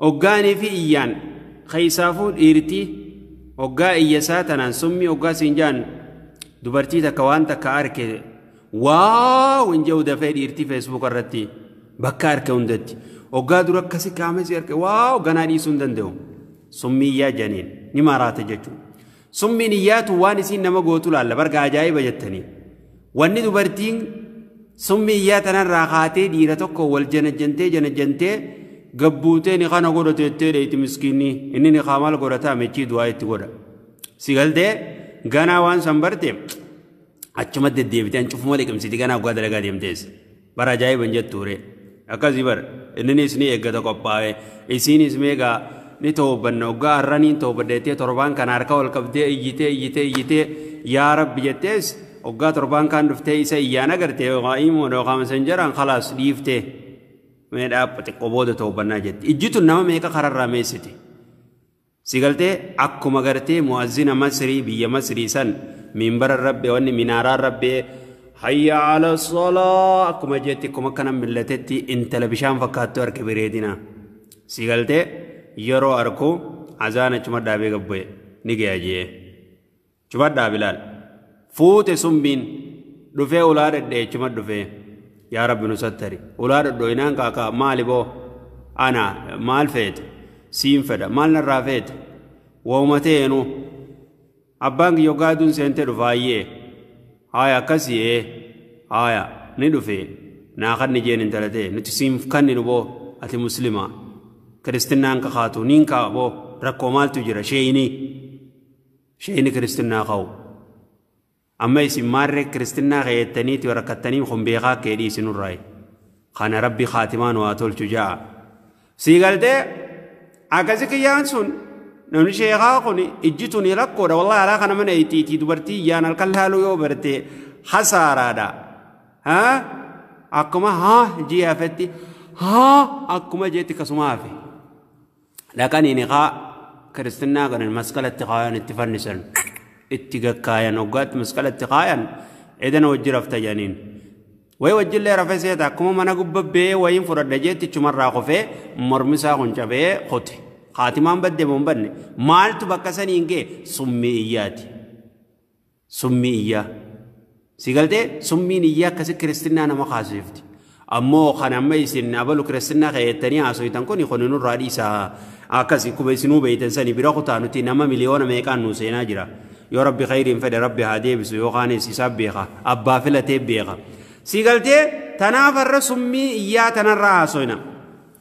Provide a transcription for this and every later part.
oggaanii fi iyyaan keessaafuu dhiirtii oggaa iyya isaa tanaan summii oggaa siin jaan dubartii takka waan takka arke waaw hin jedhu dafee dhiirtii feesbuuka irratti bakka arke hundatti oggaa dura akkasi qaamessi arke waaw ganaa dhiisuu hin danda'u summii iyyaa janiin ni maraata jechuudha. Summii niyyaatu waan isiin nama gootu laalla barga ajaa'iba jettanii. Wanni dubartiin summii iyyaa tanarraa kaatee dhiira tokko wal janajjantee janajjantee gabbuutee ni kana godha teettee dheeyti miskiinni inni ni kaa maal godhataa mechii du'aa itti godha. Si galtee ganaa waan san barte achuma deddeebite an cufuma liqimsiti ganaa guddaa dalagaa deemteessa. Bara ajaa'iba hin jettuu ree. Akkasii bar inninis ni eeggata qophaa'ee isiinis meegaa ni toobanna oggaa har'a niin toobadha jettee torbaan kana harka ol qabdee iyyitee iyyitee iyyitee yaa rabbi jettees oggaa torbaan kaan dhuftee isa iyyaan agarte yookaan imuun yookaan messengeraan khalaas dhiiftee mee dhaabba xiqqoo booda toobannaa jetti ijjituun nama meeqa kararraa meessite. Si galtee akkuma gartee mu'azzina masrii biyya masrii san minbara irra ba'e wanni minaaraa irra ba'e hayya ala salaa akkuma jeetti akkuma akkana millatetti intala bishaan fakkaattu arke bireedina si galtee yeroo arku azaan achuma dhaabee gabbu'e ni gaya jee. Cufadhaa Bilaal. Fuute summiin. Dhufee ulaa dhadhee chuma dhufee. Yaa Rabbi nu sattari. Ulaa dhadhooyinaan kaakaa maali boo? Ana maal feete? Siin fedha. Maal narraa feete? Waumatee enu. Abbaan kiyyo gaaduun seentee dhufaayyee. Haaya akkasii ee. Haaya ni dhufee. Naa kan ni jeen intalatee. Nuti siinf kanninu boo. Ati muslimaa. Kiristinnaan kakaatu niin kaa boo. Rakkoo maaltu jira sheeyinii. Sheeyni kiristinnaa ka'u. Amma isin maarree kiristinnaa keettaniiti rakkattanii kun beekaa kee dhiisi nurraayi. Kana rabbi kaatimaa nu haa tolchu ja'a. Sii galtee akkasi kiyyaan sun namni sheekaa kun ijji tuni rakkoodha wallahi alaa kana mana itti itti dubartii iyyaan halkan laaluu yoo barte hasaaraadha. Haa akkuma haa ji'a hafetti haa akkuma jeetti kasuma hafe. dhaqanii nikaa kiristinnaa godhan masqalatti kaayan itti fannisan itti gakkaayan hoggaatti masqalatti kaayan edan wajji rafta jedhaniin way wajjillee rafe seeta akkuma mana gubba bee wayiin fudhadha jeetti chumarraa kufee mormisaa kun cabee kute haatimaan badde boon badne maaltu bakka saniin gee summii iyyaati Summii iyyaa. Si galtee summiin iyyaa akkasi kiristinnaa nama kaasifti. Ammoo kan amma isin abalu kiristinnaa keettanii haasoytan kuni kuni nurraa dhiisaa. Akkasi kuma isinuu beeytan sani bira kutaa nuti nama miliyoona meeqaan nuu seenaa jira. Yoo rabbi khayriin fedhe rabbi haa deebisu yoo kaanis isaa beeka. Abbaa filatee beeka. Si galtee tanaaf har'a summii iyyaa tanarraa haasoyna.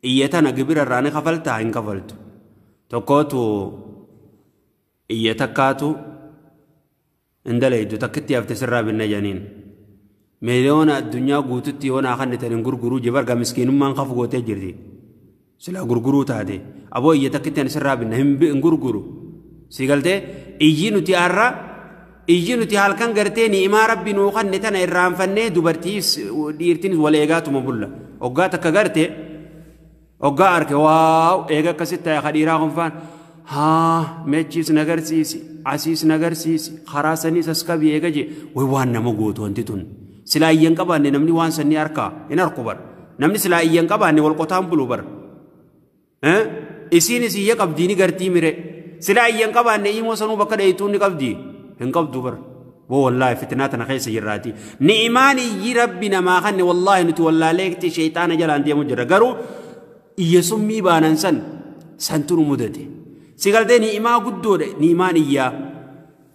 Iyya tana gibira irraa ni kafaltaa hin kafaltu. Tokkootu iyya takkaatu hin dalaydu takkitti hafte sirraa binna janiin. Miliyoona addunyaa guututti yoo naa kannitan hin gurguruu je barga miskiinummaan kaf gootee jirti. Silaa gurguruu taate aboo iyya takkitti ani sirraa binna hin gurguru. Sii galtee iyyi nuti har'a Iyyi nuti halkan gartee ni'imaa rabbi nuu kanne tana irraanfannee dubartiis dhiirtinis wal eegaatuma bulla. Oggaa takka garte oggaa arke waaw eega akkasitti ta'e ka dhiiraa kunfaan haa mechiis nagarsiisi asiis nagarsiisi karaa saniis as qabi eega jee way waan nama gootu wanti tun. Silaa iyyan qabaanne namni waan sannii harkaa hin harku bar. Namni silaa iyyan qabaanne wal qotaan bulu bar. isiin isiyya qabdii ni gartii mire sila ayyan qabaanne imoo sanuu bakka dheeytuun ni qabdii hin qabdu bar boo wallaahi fitnaa tana keessa jirraati ni'imaan iyyi rabbi namaa kanne wallaahi nuti wallaaleekti sheeyxaana jalaan deemu jirra garuu iyya summii baanan san santu nu mudate si galtee ni'imaa guddoodha ni'imaan iyyaa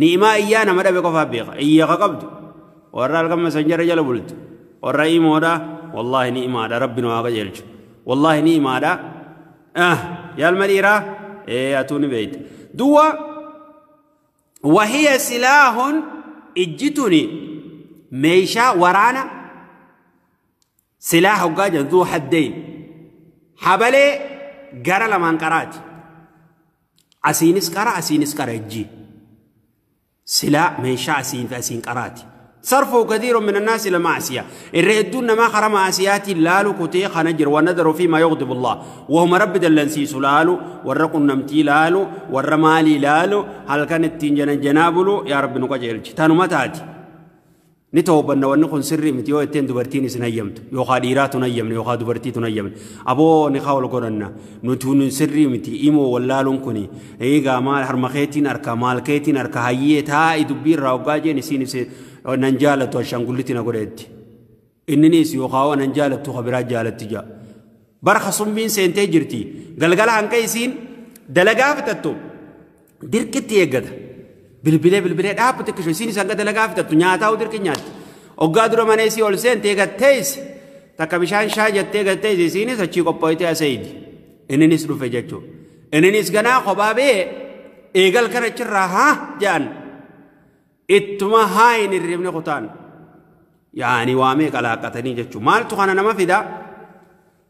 Ni'imaa iyyaa nama dhabe qofaa beeka. Iyya ka qabdu. Warra halkan masanjara jala bultu. Warra imoodha. Wallaahi ni'imaadha. Rabbi nu haa qajeelchu. Wallaahi ni'imaadha. Ah, yaalma dhiiraa? Ee, atuu ni beeyta. Duwwa, wahiya silaahun ijji tuni meeshaa waraana silaa hoggaa jedhu duu haddeyn. Habalee gara lamaan qaraati. Asiinis qara asiinis qara ijjii. Silaa meeshaa asiin fi asiin qaraati. Sarfuu kathiirun min annaasi ila maasiya. Irra hedduun namaa karaa maasiyaatiin laalu kutee kana jira. Wa nadaru fi ma yughdibullah. Wahuma rabbi dallansiisu laalu, warra qunnamtii laalu, warra maalii laalu, halkan ittiin janajjanaa bulu, yaa rabbi nu qajeelchi. Tanuma taati. Ni tawbanna wanni kun sirrii miti yoo jetteen dubartiin isin hayyamtu yookaa dhiiraa tun hayyamne yookaa dubartii tun hayyamne aboo nikaa wal godhanna nutuun sirrii miti imoo wallaaluun kuni eegaa maal harma keetiin harka maal keetiin harka hayyee taa'i dubbii irraa hoggaa jeen isiin isin nan jaalatu ashaangullitti na godheetti inninis yookaa waan nan jaalattu ka biraa jaalatti jaa barka summiin seentee jirti galgala hanqa isiin dalagaa fixattu dirqitti eeggata. Bilbilee bilbilee dhaabbu xiqqisho isiin isa hanga dalagaa fixattu nyaataa dirqi nyaatti. Oggaa dura mana isii ol seente eegattees takka bishaan shaa jettee eegattees isiinis achii qophooytee aseeydi. Inninis dhufe jechuudha. Inninis ganaa kophaa bee eegal kana achirraa haa jedhan. Ittuma haa hin hirribne kutaan. Yaani waamee qalaaqqatanii jechuudha. Maaltu kana nama fidaa?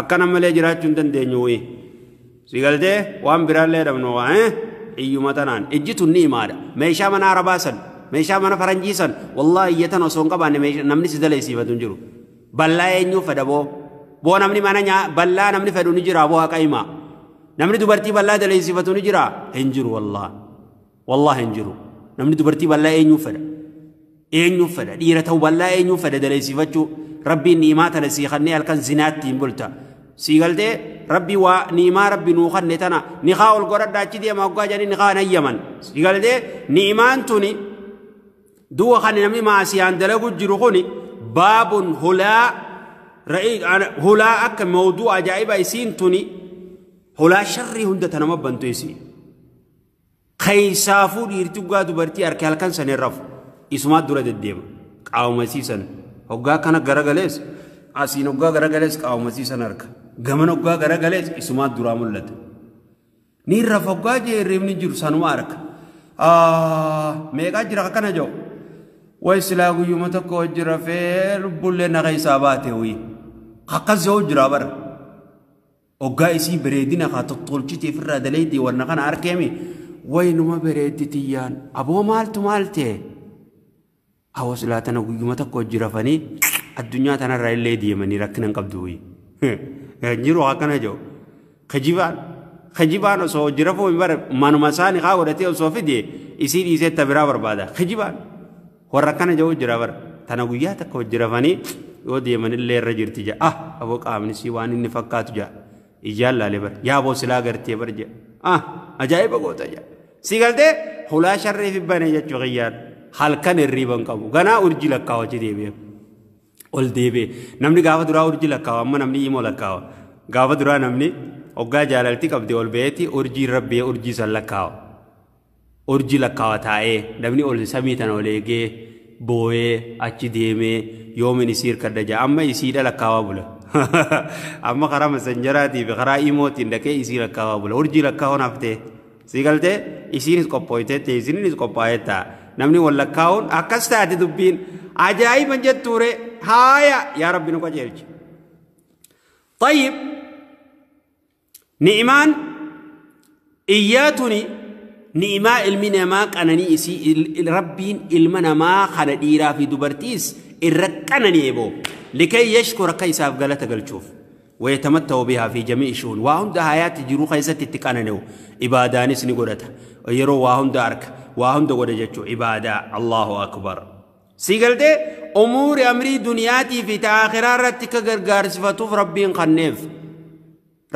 Akkana malee jiraachuu hin dandeenyu wayii. Si galtee waan biraallee dhabnu waa eh? Hiyyuma tanaan. Ijji tun ni imaadha. Meeshaa mana arabaa san. Meeshaa mana faranjii san. Wallaahi iyya tan osoo hin qabaanne meeshaa- namni si daleessiifatu hin jiru. Ballaa eenyuu fedha boo? Boo namni mana nyaa ballaa namni fedhu ni jira boo haqa himaa. Namni dubartii ballaa daleessiifatu ni jira? Hin jiru wallaahi. Wallaahi hin jiru. Namni dubartii bal'aa eenyuuf fedha? Eenyuuf fedha? Dhiira ta'u bal'aa eenyuuf fedha daleessifachuu? Rabbiin ni'imaa tana sii kannee halkan zinaatti hin bulta. Sii galtee rabbi waa ni'imaa rabbi nuu kanne tana nikaa ol godhadha achi deema hoggaa jedhanii nikaa hin hayyaman. Sii galtee ni'imaan tuni du'a kan namni maasiyaan dalagu jiru kuni baabun hulaa hulaa akka mawduu ajaa'iba isiin tuni hulaa sharrii hunda tanama bantu isiin. Keessaafuu dhiirti dhugaa dubartii harki halkan san hin rafu. Isumaa dura deddeema. Qaamasii san. Hoggaa kana garagalees asiin hoggaa garagalees qaamasii san harka. Gaman hoggaa garagalees isumaa duraa mul'ata. Ni rafa hoggaa jee hirribni jiru sanuma harka. Meeqaa jira akkana jedhu. Way silaa guyyuma tokko hojii rafee lubbullee na keessaa baate wayii. Akkas jedhu jira bara. Oggaa isii bereedina kaa tottolchitee firraa daleeydee wanna kana arkeemi way numa bereeddi tiyyaan aboo maaltu maal ta'e awoo silaa tana guyyuma takka hojji rafanii addunyaa tanarraa illee deemanii rakkina hin qabdu wayi jiru akkana jiru kijibaan kijibaan osoo hojji rafuu hin bara manuma isaanii kaa godhatee osoo fide isii dhiisee tabiraa barbaada kijibaan. Warra akkana ja'u jira bara. Tana guyyaa takka hojji rafanii yoo deemanillee irra jirti ja'a. Ah aboo qaamnisii waan inni fakkaatu ja'a. Ijaan laale bara. Yaa aboo silaa gartee bara ja'a. Ah ajaa'iba goota ja'a. Si galtee hulaa sharree fi banee jechuu kiyyaan halkan hirriiban qabu. Ganaa urjii lakkaawachi deebi'e. Ol deebi'e. Namni gaafa duraa urjii lakkaawa amma namni imoo lakkaawa. Gaafa duraa namni hoggaa jaalalti qabdee ol ba'eeti urjiin rabbee urjii san lakkaawa. Urjii lakkaawa taa'ee, namni ol samii tana ol eegee, booyee, achi deemee, yoomin isii hirkadha ja'a. Amma isiidha lakkaawaa bula. Amma karaa masanjaraatii fi karaa imootiin dhaqee isii lakkaawaa bula. Urjii lakkaawan haftee. Sii galtee isiinis qophooytee ta'e isiniinis qophaa'ee ta'a. Namni wal lakkaawuun akkas taate dubbiin ajaa'iban jettuure haaya yaa rabbi nu qajeelchi. Tayyib Ni'imaan iyyaa tuni ni'imaa ilmi namaa qananii isii il- il- rabbiin ilma namaa kana dhiiraa fi dubartiis irra qanani'e boo likay yashkur akka isaaf galata galchuuf wayatamattahu bihaa fi jami'i shu'un waa hunda hayaatti jiruu keessatti itti qanani'u ibaadaanis ni godhata yeroo waa hunda arka waa hunda godha jechuu ibaadaa allahu akbar Sii galtee umuuri amrii duniyaatii fi ta akhiraa irratti akka gargaarsifatuuf rabbiin kanneef.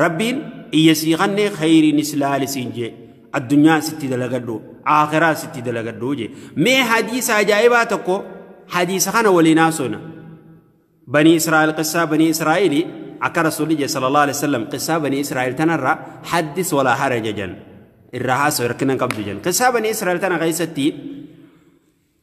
Rabbiin iyya sii kannee khayriin islaali siin jee addunyaa sitti dalagadhu akhiraa sitti dalagadhu jee mee hadiisa ajaa'ibaa tokko hadiisa kana waliin haasofna. Banii Israa'el qissaa banii Israa'eli akka rasuulli jee sallallahu alaihi wasallam qissaa banii Israa'el tanarraa haddis walaa haraja jan irraa haasoo hirkina qabdu jan qissaa banii Israa'el tana keessatti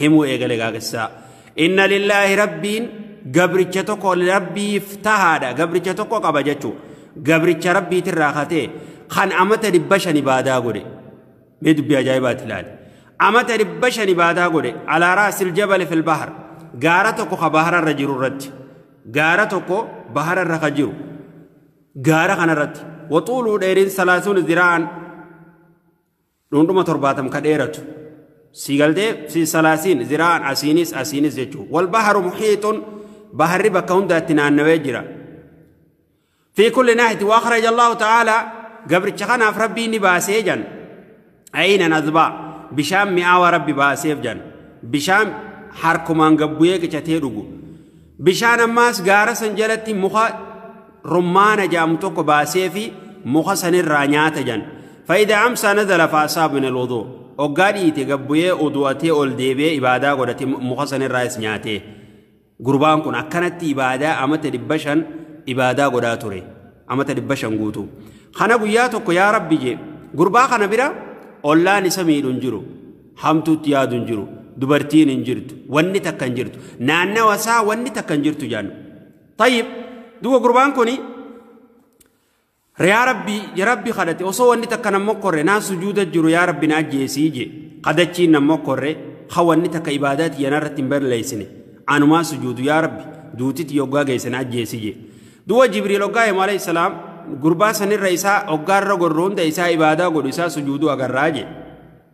himuu eegale gaagessisaa inna lillaahi rabbiin gabricha tokko rabbiif tahaadha gabricha tokko qaba jechuu gabricha rabbiitirraa katee kan amata dhibba shan ibaadaa godhe mee dubbii ajaa'ibaati ilaali amata dhibba shan ibaadaa godhe alaaraa siljabale filbahar gaara tokko ka bahararra jiru irratti gaara tokko bahararra ka jiru gaara kanarratti waxuuluu dheerin salaasuun ziraan dhundhuma torbaatam ka dheeratu sii galtee fi salaasiin ziraan asiinis asiinis jechuu wal baharu muhiixun baharri bakka hundaatti naannawee jira fi kulli naahiti waa kharaja allahu ta'aalaa gabricha kanaaf rabbii ni baasee jan ayinan azbaa bishaan mi'aawa rabbi baaseef jan bishaan harkumaan gabbu'ee qicatee dhugu Bishaan ammaas gaara san jalatti muka rummaana jaamu tokko baasee fi muka sanirraa nyaata jan. Fayida amsaa nazala faasaa bin alwuduu. Oggaa dhiite gabbuyee udu'atee ol deebi'ee ibaadaa godhate muka sanirraa is nyaatee. Gurbaan kun akkanatti ibaadaa amata dhibba shan ibaadaa godhaa ture. Amata dhibba shan guutuu. Kana guyyaa tokko yaa rabbi jee gurbaa kana bira ollaan isa miidhu hin jiru. Hamtuutti yaadu hin jiru. Dubartiin hin jirtu. Wanni takka hin jirtu. Naannawa isaa wanni takka hin jirtu jaannu. Tayyib duuba gurbaan kuni yaa rabbi ya rabbi kadhate osoo wanni takka nan mokkorre naan sujuuda jiru yaa rabbi naa jeesii je kadhachiin nan mokkorre ha wanni takka ibaadaa tiyya narratti hin balleessine anumaa sujuudu yaa rabbi duutiti yoggaa geesse naa jeesii je duuba jibriil hoggaa himu alayhi salaam gurbaa sanirra isaa hoggaarra gorru hunda isaa ibaadaa godhu isaa sujuudu agarraa je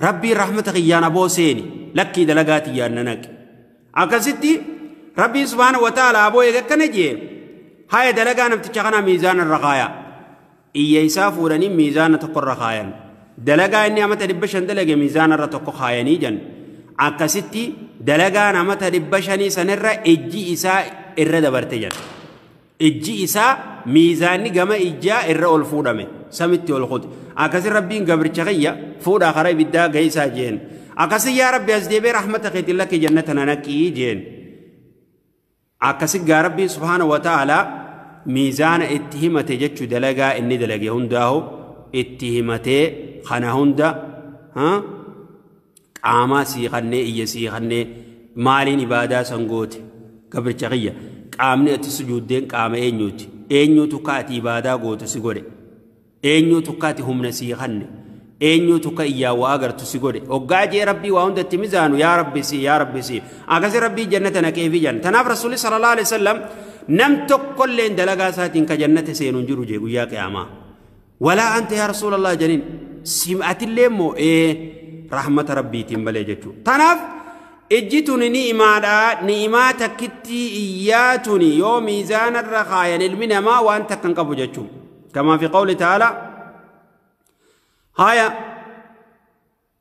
Rabbii rahmata kiyyaan aboo seeni lakkii dalagaa tiyyaan na naqi. Akkasitti Rabbiin subhaana wa ta'ala aboo eega akkana jee haya dalagaa namticha kanaa miizaana irra kaaya. Iyya isaa fuudhanii miizaana tokko irra kaayan. Dalagaa inni amata dhibba shan dalage miizaana irra tokko kaayanii jan. Akkasitti dalagaan amata dhibba shanii sanirra ijji isaa irra dabarte jan. ijji isaa miizaanni gama ijjaa irra ol fuudhame samitti ol kute akkasi rabbiin gabricha kiyya fuudhaa karaa ibiddaa geessaa jeen akkasi yaa rabbi as deebee rahmata keetiin lakki jannata na naqii jeen akkasi gaa rabbiin subhaana wa ta'aalaa miizaana itti himate jechuu dalagaa inni dalage hundaahu itti himatee kana hunda qaamaa sii kannee iyya sii kannee maaliin ibaadaa san goote gabricha kiyya qaamni ati sujuuddeen qaama eenyuuti eenyuutu ka ati ibaadaa gootu si godhe eenyuutu ka ati humna sii kanne eenyuutu ka iyyaa waa agartu si godhe oggaa jee rabbii waa hunda itti mizaanu yaa rabbi sii yaa rabbi sii akkasi rabbii jannata naqeefi jan tanaaf rasuulli sallallahu alaihi wasallam nam tokkolleen dalagaa isaatiin ka jannata seenu hin jiru jee guyyaa qiyaamaa Walaa anta yaa Rasuulallah janiin sim'atillee immoo ee rahmata rabbiitiin malee jechuu. Tanaaf ijji tuni ni'imaadha ni'imaa takkittii iyyaa tuni yoo miizaanarra kaayan ilmi namaa waan takka hin qabu jechuu. Kamaa fi qawli ta'ala haaya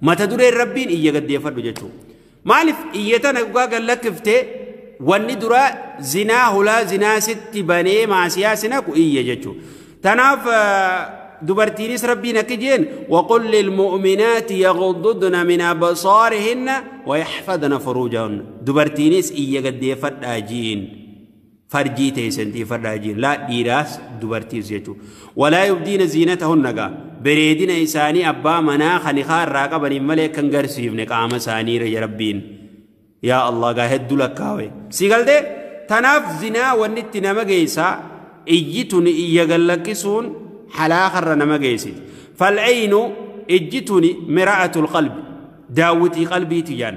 Mata dureen rabbiin iyya gaddeeffadhu jechuu. Maaliif iyya tana dhugaa gad lakkiftee wanni duraa zinaa hulaa zinaa sitti banee maasiyaa sinaku iyya jechuu. Tanaaf dubartiinis rabbiin akki jeen waqul lilmu'minaati yaghududna min absaarihinna wayaxfadna furuujahunna dubartiinis iyya gaddeeffadhaa jiin. farjii teessan tiifadhaa jiin laa dhiiraas dubartiis jechuu walaa yubdiina ziinata hunnagaa bereedina isaanii abbaa manaa kan ikaa irraa qabaniin malee kan garsiifne qaama isaanii irra rabbiin yaa allah gaa hedduu lakkaawe si galtee tanaaf zinaa wanni itti nama geessaa iyyi tun iyya gallakkisuun halaakarra nama geessiti fal'aynu ijji tuni mira'atul qalbi daawwitii qalbiiti jaan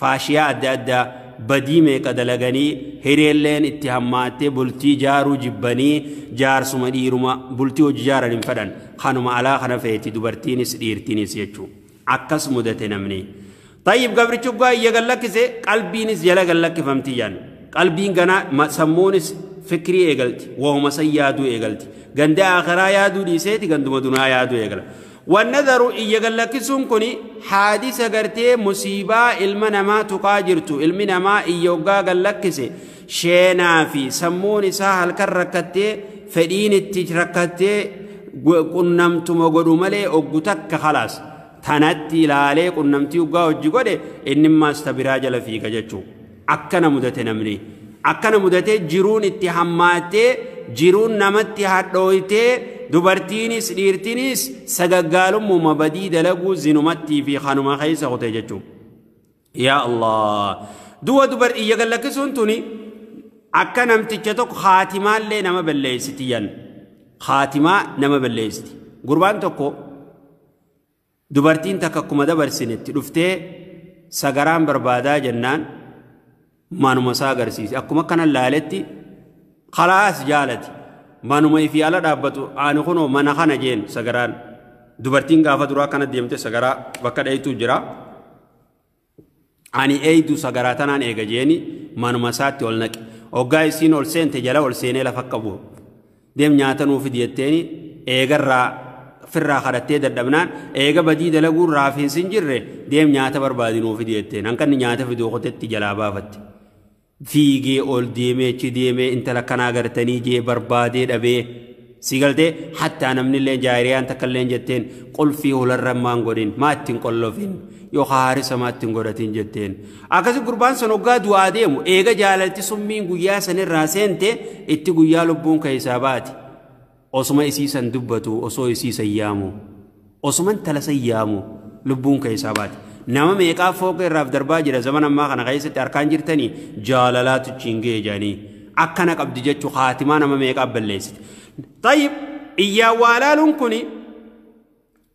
faashiyaa adda addaa badii meeqa dalaganii hireelleen itti hammaattee bultii jaaruu jibbanii jaarsuma dhiiruma bultii hojii jaaran hin fedhan kanuma alaa kana feeti dubartiinis dhiirtiinis jechuu akkas mudate namni tayyib gabrichi uggaa iyya gallakkise qalbiinis jala gallakkifamti jaan qalbiin ganaa sammuunis fikrii eegalti waa'uma san yaaduu eegalti ganda akiraa yaaduu dhiiseeti ganduma dunaa yaaduu eegala Wannadaru iyya gallakkisuun kuni haadisa gartee musiibaa ilma namaa tuqaa jirtu ilmi namaa iyya oggaa gallakkise sheenaa fi sammuun isaa halkan rakkattee fedhiin itti rakkattee qunnamtuma godhu malee oggu takka khalaas tanatti ilaalee qunnamtii oggaa hojji godhe innimmaas ta biraa jala fiiga jechuu akkana mudate namni akkana mudate jiruun itti hammaattee jiruun namatti hadhooytee dubartiinis dhiirtinis sagaggaalummaa badii dalaguu zinumattii fi kanuma keessa kutee jechuun yaa allah du'a dubar iyya gallakkisuun tuni akka namticha tokko haatimaallee nama balleessiti yan haatimaa nama balleessiti gurbaan tokko Dubartiin takka akkuma dabarsinetti dhuftee sagaraan barbaadaa jennaan manuma isaa agarsiise. Akkuma kanan laaletti kalaas jaalati. Manuma ifii ala dhaabbatu ani kunoo mana kana jeen sagaraan. Dubartiin gaafa duraa kana deemte sagaraa bakka dhayitu jira. Ani eeydu sagaraa tanaan eega jeeni manuma isaatti ol naqe. Oggaa isiin ol seente jala ol seenee lafa akka bu'u. Deem nyaata nuu fidi jetteeni eegarraa firraa kadhattee dadhabnaan eega badii dalaguun raafiinsi hin jirre deem nyaata barbaadi nuu fidi jetteen. Hanqanni nyaata fiduu kotetti jalaa baafatte. fiigee ol deemee achi deemee intala kanaa gartanii jee barbaadee dhabee si galtee hattaa namnillee jaariyaan takkallee jetteen qulfii hularra maan godhin maa ittiin qollofin yookaan haarisa maa ittiin godhatiin jetteen akkasi gurbaan san hoggaa du'aa deemu eega jaalalti summiin guyyaa sanirraa seente itti guyyaa lubbuun keessaa baati Osuma isii san dubbatu, osoo isii san yaamu, osuma intala san yaamu lubbuun keessaa baate. Nama meeqaa fooqee irraaf darbaa jira zaman ammaa kana keessatti harkaan jirtanii jaalalaatu achiin ga'e jedhanii akkana qabdi jechu haatimaa nama meeqaa balleessite. Tayyib iyyaa waalaaluun kuni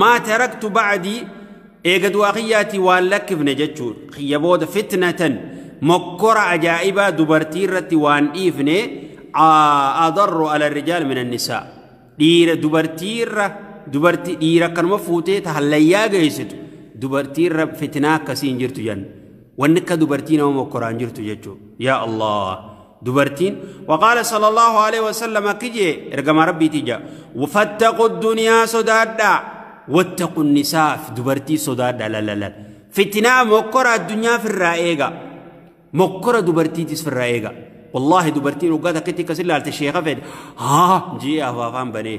maa taraktu ba'adii eega du'aa kiyyaatii waan lakkifne jechuu kiyya booda fitnatan mokkora ajaa'ibaa dubartii irratti waan dhiifne adarru ala rijaal min annisaa dhiira dubartii irra dubartii dhiira akkanuma fuutee ta hallayyaa geessitu dubartii irra fitnaa akkasii hin jirtu jenna wanni akka dubartii nama mokkoraan jirtu jechuu yaa allah dubartiin waqaala sallallahu alaihi wasallam akki jee ergama rabbiitii jaa fattaqu duniyaa sodaadhaa wattaqu nisaaf dubartii sodaadhaa lalalal fitinaa mokkora addunyaa firraa eega mokkora dubartiitis firraa eega wallaahi dubartiin waggaa takkitti akkas ilaalte sheeka fedhe haa jee afaafaan banee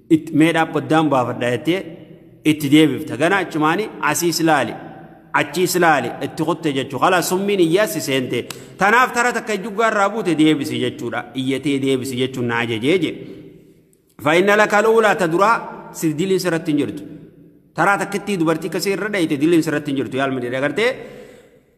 Itti mee dhaabbadaan baafadha jettee itti deebifta. Gana achumaani asiis laali. Achiis laali itti kutte jechuu. Kala summiin iyyaas si seente. Tanaaf tara takka juggaa irraa buute deebisi jechuudha. Iyyatee deebisi jechuun na ajajee jee. Fa'inna laka luulaa ta duraa si diliin sirratti hin jirtu. Taraa takkittii dubartii kasii irra dhayite diliin sirratti hin jirtu. Yaalma dheedha gartee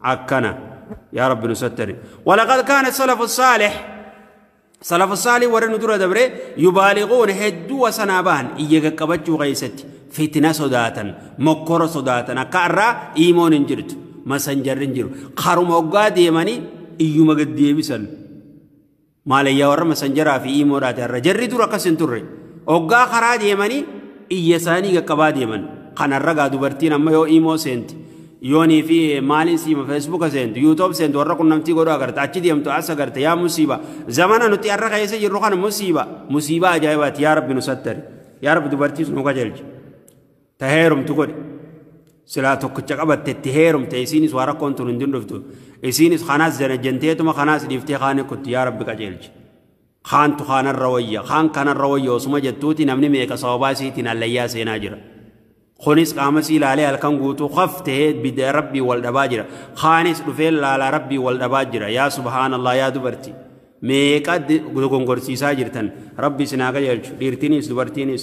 akkana yaa rabbi nu sattari walaqad kaana salafu saalih salafu saalih warri nu dura dabre yubaaliquun hedduu wasanaa bahan iyya qaqqabachuu keessatti fitina sodaatan mokkora sodaatan akka irraa iimoon hin jirtu masanjarri hin jiru karuma oggaa deemanii iyyuma gad deebisan Maalayyaa warra masanjaraa fi iimoodhaati har'a. Jarri dur akkas hin turre. Oggaa karaa deemanii iyya isaanii qaqqabaa deeman. Kan har'a gaa dubartiin amma yoo iimoo seenti yoonii fi maaliin siima feesbuuka seentu yuutoob seentu warra qunnamtii godhu agarta achi deemtu as agarta yaa musiiba zamana nuti har'a keessa jirru kana musiiba musiiba ajaa'ibaati yaa rabbi nu sattari yaa rabbi dubartiis nu qajeelchi. ta heerumtu godhi silaa tokkicha qabatte itti heerumte isiinis waa rakkoon tun hin dundhuftu isiinis kanaas janajanteetuma kanaas dhiiftee kaanii kutti yaa rabbi qajeelchi kaantu kaanarra wayya kaan kanarra wayya osuma jettuuti namni meeqa sababaa isiitiin allayyaa seenaa jira kunis qaama sii laalee halkan guutuu kaf ta'ee bidda rabbii wal dhabaa jira kaanis dhufee laalaa rabbii wal dhabaa jira yaa subhaanallah yaa dubartii meeqa dogongorsiisaa jirtan rabbi isin haa qajeelchu dhiirtiinis dubartiinis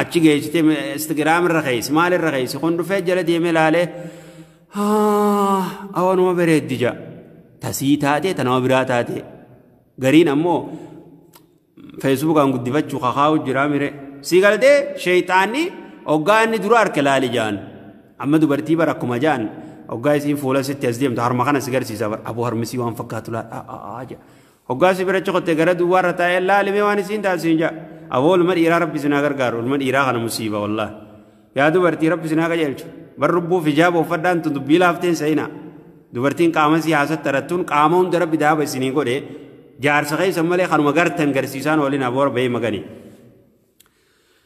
Achi geessite Instagram irra keessa maal irra keessa kun dhufee jala deemee laalee awanuma bareeddi jaa tasii taatee tanama biraa taatee gariin ammoo feesbuukaan guddifachuu kakaa'u jiraa mire sii galtee sheeyxaanni oggaa inni dura harka laali jaan amma dubartii bara akkuma jaan oggaa isiin fuula sitti as deemtu harma kana si garsiisa bara aboo harmisii waan fakkaatu laadhaa jaa Hoggaa si birachi kotte gara duwwaarra taa'ee laali mee waan isiin taate siin ja'a. Aboo ilma dhiiraa rabbi isin haa gargaaru ilma dhiiraa kana musiiba wallaah. Yaa dubartii rabbi isin haa qajeelchu. Bar lubbuuf hijaaba uffadhaan tun dubbii laafteen sa'inaa. Dubartiin qaama si haasattarattuun qaama hunda rabbi daaba isinii godhe jaarsa keessan malee kanuma gartan garsiisaan oolina boora bahee maganii.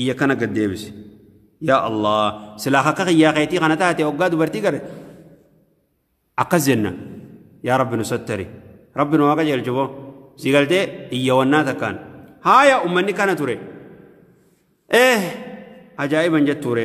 iyya kana gad deebise yaa allah silaa akka kiyyaa keetii kana taate oggaa dubartii gare akkas jenna yaa rabbi nu sattari rabbi nu waaqa jeelchu boo si galtee iyya wannaa takkaan haaya ummanni kana ture eh ajaa'iban jettuure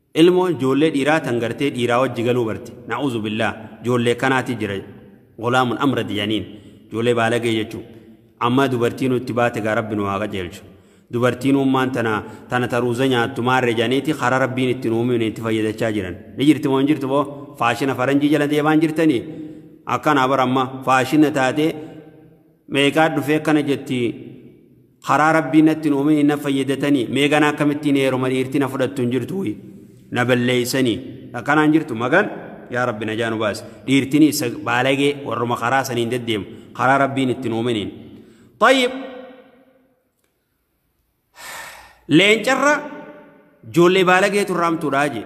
Ilmoon joollee dhiiraa tan gartee dhiiraa wajji galuu barte. Na'uuzu billaah. Joollee kanaati jira. Gulaamun amrad janiin. Joollee baalagee jechuu. Amma dubartiinuu itti baate gaa rabbi nu haa qajeelchu. Dubartiinuu ummaan tana tana taruuza nyaattu maarre janiiti karaa rabbiin itti nu uumine itti fayyadachaa jiran. Ni jirti moo hin jirtu boo? Faashina faranjii jala deemaan jirtanii? Akkanaa bar amma faashina taatee meeqaa dhufee akkana jetti karaa rabbii natti nuume hin fayyadatanii meeqana akkamittiin heeruma dhiirti na fudhattu hin jirtu wayii na balleeysanii akkanaan jirtu magan yaa rabbi na jaanu baase dhiirtini isa baalagee warruma karaa saniin deddeemu karaa rabbiin itti nuumeniin tayyib leencarra joollee baalageetu irraamtuudhaa jee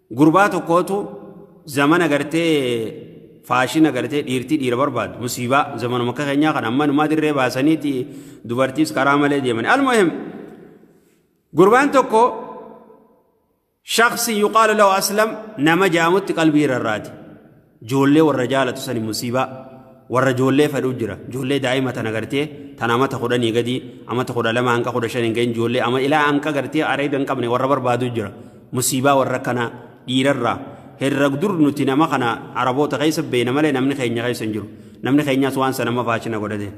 Gurbaa tokkootu zamana gartee faashina gartee dhiirtii dhiira barbaadu musiibaa zamanuma akka keenyaa kan amma numaa dirree baasaniiti dubartiis karaa malee deeman almuhim gurbaan tokko shaksi yuqaalu lahu aslam nama jaamutti qalbii irraati joollee warra jaalatu sani musiibaa warra joollee fedhuu jira joollee daa'ima tana gartee tana amata kudhanii gadii amata kudha lama hanqa kudha shan hin ga'in joollee ama ilaa hanqa gartee areeda hin qabne warra barbaadu jira musiibaa warra kana dhiirarraa herra dur nuti nama kana araboota keessa beena malee namni keenya keessa hin jiru namni keenyaas waan sana amma faachina godhate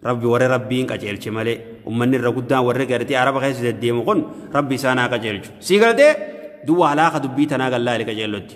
rabbi warri rabbiin qajeelche malee ummanni irra guddaan warri gartee araba keessa deddeemu kun rabbi isaan haa qajeelchu sii galtee duwwaa halaaka dubbii tanaa gallaali qajeellotti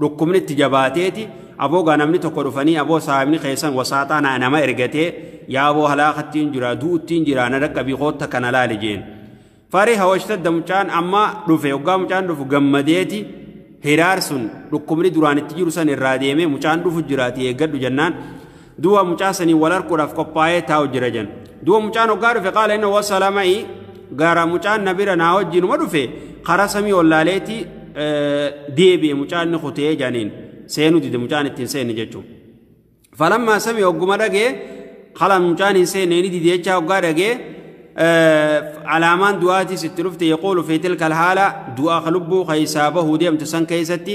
dhukkubni itti jabaateeti aboo gaa namni tokko dhufanii aboo saahibni keessan wasaaxaa naa nama ergatee yaa aboo halaakattiin jira du'uttiin jira na dhaqqabii kootta kana laali jeen farii hawashtadda mucaan amma dhufe oggaa mucaan dhufu gammadeeti hiraar sun dhukkubni duraan itti jiru san irraa deemee mucaan dhufu jiraati eeggadhu jennaan duwa mucaa sanii wal harkuudhaaf qophaa'ee taa'u jira jan duwa mucaan hoggaa dhufe qaala inna wasala ma'i gara mucaan na bira naa wajjinuma dhufe karaa samii ollaaleeti deebi'e mucaan ni kutee janiin seenuu dide mucaan ittiin seenne jechuun falammaa samii hogguma dhagee kalaan mucaan hin seenne ni dide jechaa hoggaa dhagee alaamaan du'aatiis itti dhufte yaquulu fi tilka alhaala du'aa ka lubbuu keessaa bahuu deemtu san keessatti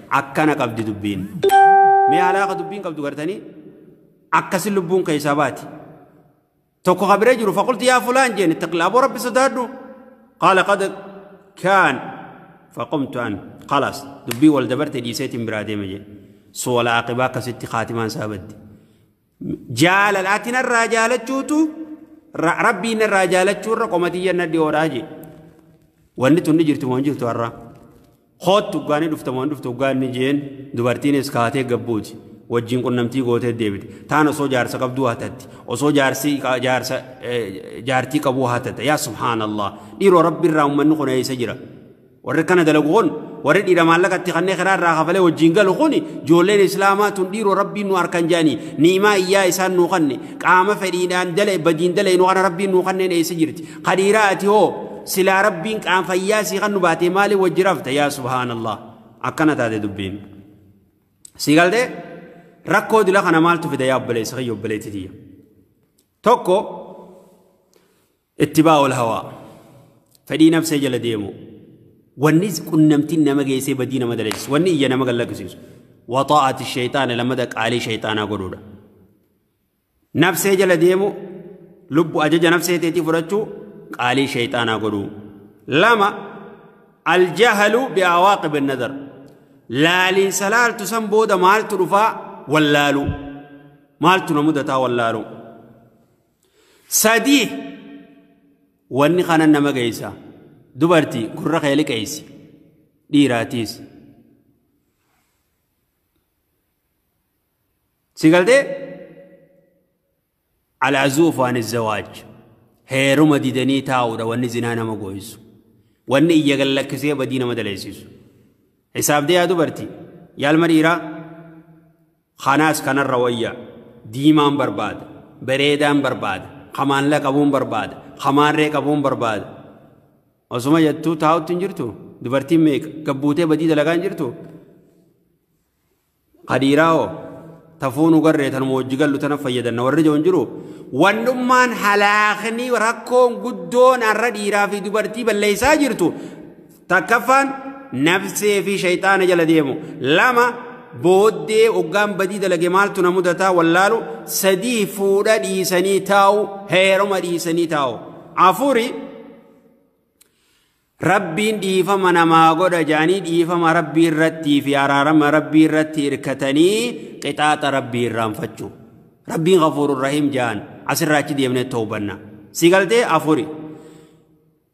akkana qabdi dubbiin mee haalaa ka dubbiin qabdu gartanii akkasin lubbuun keessaa baati tokko ka bira jiru faqulti yaa fulaan jeen ittaqla aboo rabbi sodaadhu qaala qad kaan faqumtu an khalaas dubbii wal dabarte dhiiseetiin biraa deeme jee suwala aqibaa akkasitti kaatimaan isaa badde jaalala ati narraa jaalachuutu ra- rabbii narraa jaalachuu irra qomatiyya na dhiyoodhaa jee wanni tunni jirtu moo hin jirtu har'a hoottu gaanii dhufta moo hin dhuftu gaanni jeen dubartiinis kaatee gabbuuti wajjin qunnamtii gootee deebite taan osoo jaarsa qabduu hatatti osoo jaarsii qa- jaarsa eh, jaartii qabuu hatatta yaa subhaanallah dhiiroo rabbi irraa ummanni kun eessa jira warri kana dalagu kun warri dhiira maallaqa itti kannee karaa irraa kafalee wajjin galu kun ijoolleen islaamaa tun dhiiroo rabbiin nu harkan jaanii niimaa iyyaa isaan nu kanne qaama fedhiidhaan dale badiin dale nu kana rabbiin nu kanneen eessa jirti kadhiiraa ati hoo silaa rabbiin qaam fayyaa sii kan nu baatee maaliin wajji rafta yaa subhaanallah akkana taate dubbiin si galte rakkoo dila kana maaltu fida yaa obboleessa kiyya obboleetti tiyya tokko Ittibaa'ul hawaa. Fedhii nafsee jala deemu. Wanni qunnamtiin nama geessee badii nama daleessisu. Wanni ija nama gallaqisiisu. Waxaa'ati shayxaana lammata qaalii shayxaanaa godhuudha. Nafsee jala deemu lubbu ajaja nafsee teetii fudhachuu qaalii shayxaanaa godhuu. Lama aljahalu bi'awaaqib nadar. Laaliinsa laaltu san booda maaltu dhufaa wallaaluu. Maaltu na mudataa wallaaluu. sadii wanni kanan nama geessa dubartii gurra kee liqeessi dhiiraatiis si galtee alaazuuf waan zawaaj heeruma didanii taa'uudha wanni zinaa nama gooysu wanni iyya gallakkisee badii nama daleessisu hisaabdee yaa dubartii yaalma dhiiraa Kanaas kanarra wayya. Diimaan barbaada. Bereedaan barbaada. Kamaanla qabuun barbaada. Kamaarree qabuun barbaada. Osuma jettuu taa'utti hin jirtu. Dubartiin meeqa? Gabbuutee badii dalagaa hin jirtu. Kadiiraa hoo? Tafuu nu garree tanuma wajji gallu tana fayyadanna warri jiru hin jiru. Wandhummaan halaakni rakkoon guddoon har'a dhiiraa fi dubartii balleessaa jirtu takkaffaan nafsee fi shayxaana jala deemu lama booddee oggaan badii dalage maaltu na mudataa wallaalu sadii fuudha dhiisanii taa'u heeruma dhiisanii taa'u afuri rabbiin dhiifama namaa godha jedhanii dhiifama rabbii irrattii fi araarama rabbii irratti hirkatanii qixaaxa rabbii irraanfachuu rabbiin gafuurun rahiim jedhan asirraa achi deemnee toobanna si galtee afuri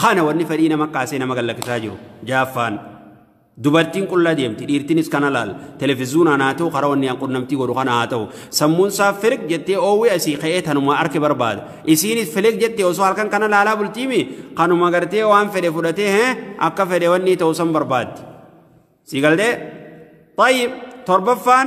Kana wanni fedhii nama kaasee nama gallakkisaa jiru. Jaaffaan dubartiin qullaa deemti dhiirtinis kana laal televizuunaan haa ta'u karaa wanni qunnamtii godhu kana haa ta'u sammuun isaa firig jettee oowwee asii ka'ee tanuma arke barbaada. Isiinis filig jettee osoo halkan kana laalaa bultiimi kanuma gartee waan fedhe fudhatee hee akka fedhe wanni ta'u san barbaaddi. Sii galtee? Tayyib torbaffaan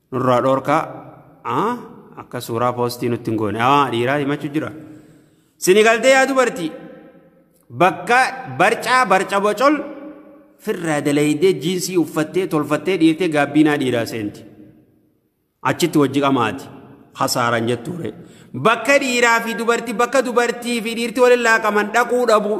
nurraa dhoorkaa aa akka suuraa poostii nutti hin goone aa dhiiraa himachu jira sini galtee yaa dubartii bakka barcaa barca bocol firraa dalaydee jiinsii uffattee tolfattee dhiirtee gaabbiinaa dhiiraa seenti achitti wajji qamaati hasaaraan jettuure bakka dhiiraa fi dubartii bakka dubartii fi dhiirti waliin laaqaman dhaquu dhabuu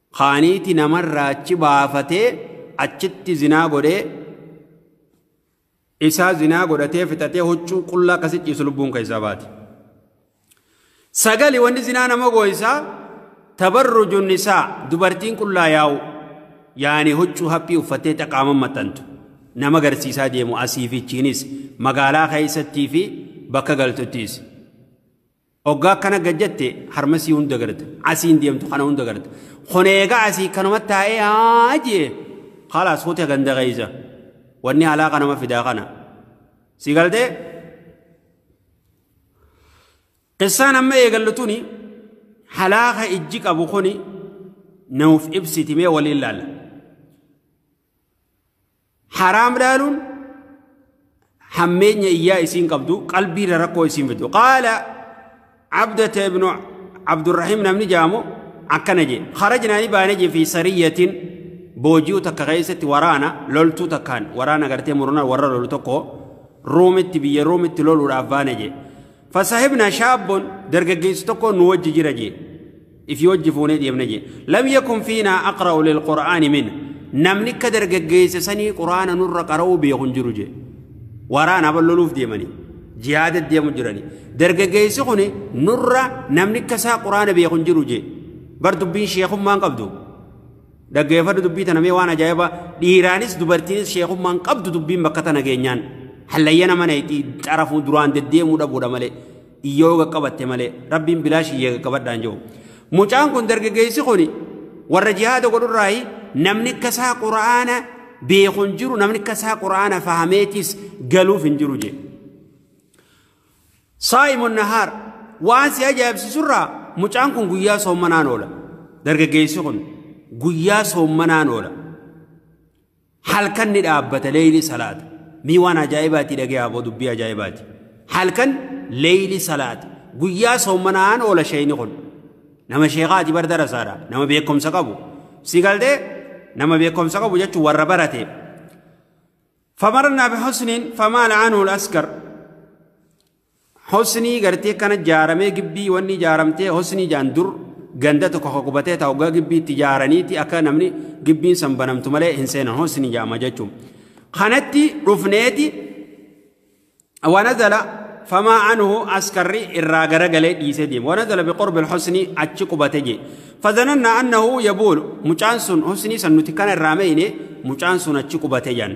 kaaniiti namarraa achi baafatee achitti zinaa godhee isaa zinaa godhatee fixatee huccuu qullaa akkasi ciisu lubbuun keessaa baati. Sagali wanni zinaa nama gooysaa tabarruju nisaa dubartiin qullaa yaa'u yaani huccuu haphii uffattee xaqaaman maxxantu nama garsiisaa deemu asiifichiinis magaalaa keessattii fi bakka galtuttiis. Oggaa akkana gad jette harmasii hunda garta. Asiin deemtu kana hunda garta. Kun eegaa asii kanuma taa'ee haa jee. Kalaas hote ganda keessa. Wanni alaa kanama fidaa kana. Si galtee? Qissaan amma eegallu tuni halaaka ijji qabu kuni nuuf ibsitimee waliin laalla. haraam laaluun hammeenya iyyaa isiin qabdu qalbiirra rakkoo isiin fidu qaala abdata ibnu abdurrahiim namni jaamu akkana jee harajnaa ni baane jee fi sariyyatiin booji'u takka keessatti waraana loltuu takkaan waraana gartee murna warra lolu tokko ruumitti biyya ruumitti loluudhaaf baane jee fasahibna shaabboon dargaggeessi tokko nu wajji jira jee ifii wajji fuunee deemna jee lam yakun fiinaa aqra'u lilqur'aani min namni akka dargaggeessa sanii qur'aana nurra qara'uu beeku hin jiru jee waraana balloluuf deemanii jihaada deemu jiranii dargaggeessi kun nurra namni akka isaa qur'aana beeku hin jiru jee bar dubbiin sheekummaan qabdu dhaggeeffadhu dubbii tana mee waan ajaa'iba dhiiraanis dubartiinis sheekummaan qabdu dubbiin bakka tana geenyaan hallayya nama nayti xarafuu duraan deddeemuu dhabuudha malee yoo qaqqabatte malee rabbiin bilaash iyyee qaqqabadhaan jiru. Mucaan kun dargaggeessi kun warra jihaada godhurraayi namni akka isaa quraana beeku hin jiru namni akka isaa quraana fahameetis galuuf hin jiru jee. Saa'imun nahaar waan si ajaa'ibsiisurraa mucaan kun guyyaa soommanaan oola. Dargaggeessi kun guyyaa soommanaan oola. halkan ni dhaabbata leeyli salaata mii waan ajaa'ibaati dhagee aboo dubbii ajaa'ibaati halkan leeyli salaata guyyaa soommanaan oola sheeyni kun nama sheekaati bar darasaadha nama beekumsa qabu si galtee nama beekumsa qabu jechuun warra barate famarnaa bihusniin famaala anhu askar Hosnii gartee akkana jaaramee gibbii wanni jaaramtee hosnii jaan dur ganda tokko ka qubatee taa waggaa gibbii itti jaaraniiti akka namni gibbiin san banamtu malee hin seenan hosnii jaama jechuun. Kanatti dhufneeti wanazala famaa anhu askarri irraa garagalee dhiisee deema. Wanazala biqorbi hosnii achi qubate jee. Fazananna annahu yabuulu mucaan sun hosnii san nuti kana irraa meeyne mucaan sun achi qubate jaan.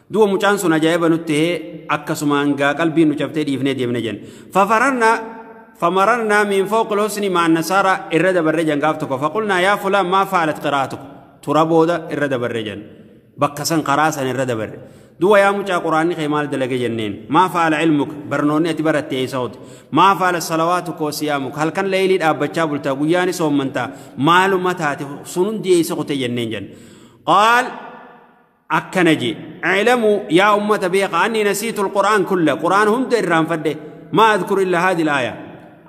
Duba mucaan sun ajaa'iba nutti hee akkasumaan gaa qalbiin nu cabtee dhiifnee deemne jen. Fafararna famararna min fooqil husni maan nasaara irra dabarre jan gaaf tokko faqulnaa yaa fulaan maa faalat qiraatuku tura booda irra dabarre jan. Bakka san karaa san irra dabarre. Duba yaa mucaa quraanni kee maal dalage jenneen maa faala ilmuka barnoonni ati baratte eessa ooti maa faala salawaatu koo siyaamuka halkan leeylii dhaabbachaa bultaa guyyaani soommantaa maaluma taate sun hundi eessa kute jenneen jenna. Qaal akkana jee iclamuu yaa ummata beeka anni nasiitu alqur'aan kulla qur'aan hunda irraanfadhe maa adkuru illa haadi laaya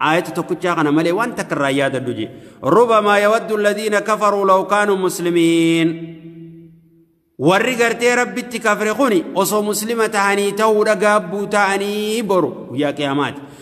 aayata tokkichaa kana malee waan takka irraa yaadadhu jee rubamaa yawaddu alladhiina kafaruu law kaanuu muslimiin warri gartee rabbitti kafre kuni osoo muslima tahanii ta'uudha gaabbuu ta'anii boru guyyaa qiyaamaati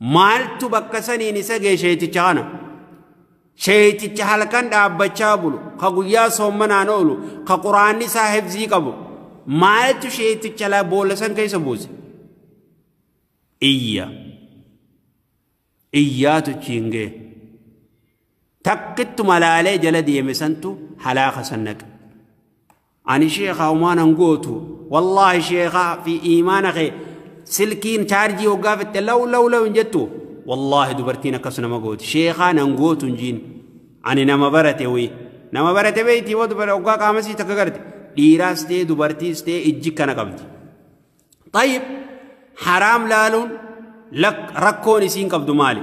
Maaltu bakka saniin isa ga'e sheeyticha kana? Sheeyticha halkan dhaabbachaa bulu, ka guyyaa soommanaan oolu, ka quraanni isaa hifzii qabu. Maaltu sheeyticha la boolla san keessa buuse? Iyya. Iyyaatu achiin ga'e. Takkittu malaalee jala deeme santu halaaka san naqe. ani sheekaa umaa nan gootu wallaahi sheekaa fi iimaana kee silkiin chaarjii hoggaa fitte law law law hin jettu wallaahi dubartiin akkas nama gooti sheekaa nan gootu hin jiin ani nama barate wii nama barate beeyti yoo dubara hoggaa qaamasii takka garte dhiiraas ta'e dubartiis ta'e ijji kana qabdi tayyib haraam laaluun rakkoon isiin qabdu maali